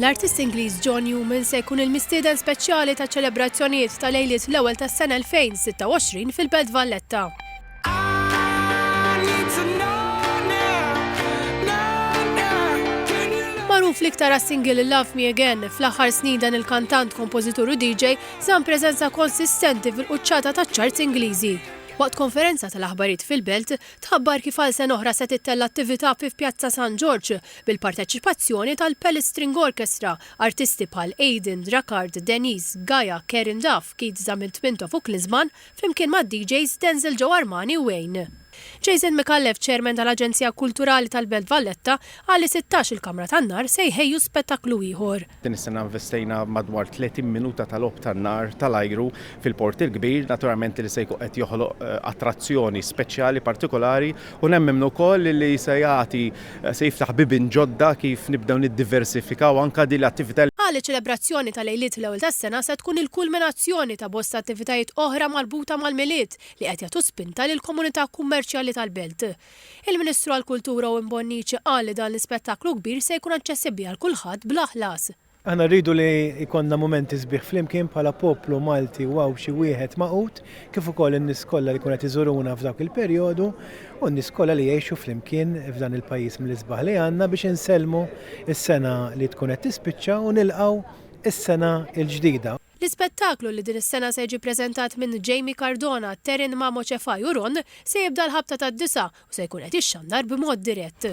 L-artist Ingliż John Newman se jkun il-mistieden speċjali taċ-ċelebrazzjonijiet ta' Lejliet l-Ewwel tas-Sena 2026 fil-Belt Valletta. Magħruf l-iktar għas-single Love Me Again, fl-aħħar snin dan il-kantant, kompożitur u DJ żamm preżenza konsistenti fil-quċċata taċ-charts Ingliżi. Waqt konferenza tal-aħbarijiet fil-Belt, Tħabbar kif għal sena oħra se tittella' attività fi Pjazza San Ġorġ bil-parteċipazzjoni tal-Palace String Orchestra, artisti bħal Aiden, Drakard, Denise, Gaia, Karen Duff, Keith Zamil Tpintof u Klisman, flimkien mad-DJs Denzel Joe Armani u Wayne. Jason Micallef, Chairman tal-Aġenzija Kulturali tal-Belt Valletta, qal li sittax il-Kamra tan-Nar se jħejju spettakklu ieħor. Din is-sena investejna madwar 30 minuta ta' logħob tan-nar tal-ajru fil-Port il-Kbir, naturalment li se jkun qed joħloq attrazzjoni speċjali partikolari u nemmen ukoll li se jagħti se jiftaħ bibien ġodda kif nibdew niddiversifikaw anke din l-attività. Qal li ċ-ċelebrazzjoni ta' Lejliet l-Ewwel tas-Sena se tkun il-kulminazzjoni ta' bosta attivitajiet oħra marbuta mal-Milied li qed jagħtu spinta lill-komunità kummerċjali tal-belt. Il-Ministru għall-Kultura Owen Bonnici qal li dan l-ispettaklu kbir se jkun aċċessibbli għal kulħadd bla ħlas. Aħna rridu li jkollna mumenti sbieħ flimkien bħala poplu Malti u Għawdxi wieħed magħqud, kif ukoll in-nies kollha li jkunu qed iżuruna f'dak il-perjodu u n-nies kollha li jgħixu flimkien f'dan il-pajjiż mill-isbaħ li għandna biex insellmu s-sena li tkun qed tispiċċa u nilqgħu s-sena l-ġdida. L-ispettaklu li din is-sena se jiġi ppreżentat minn Jamie Cardona, Taryn Mamo Cefai u Ron se jibda l-ħabta tad-disgħa u se jkun qed jixxandar b'mod dirett.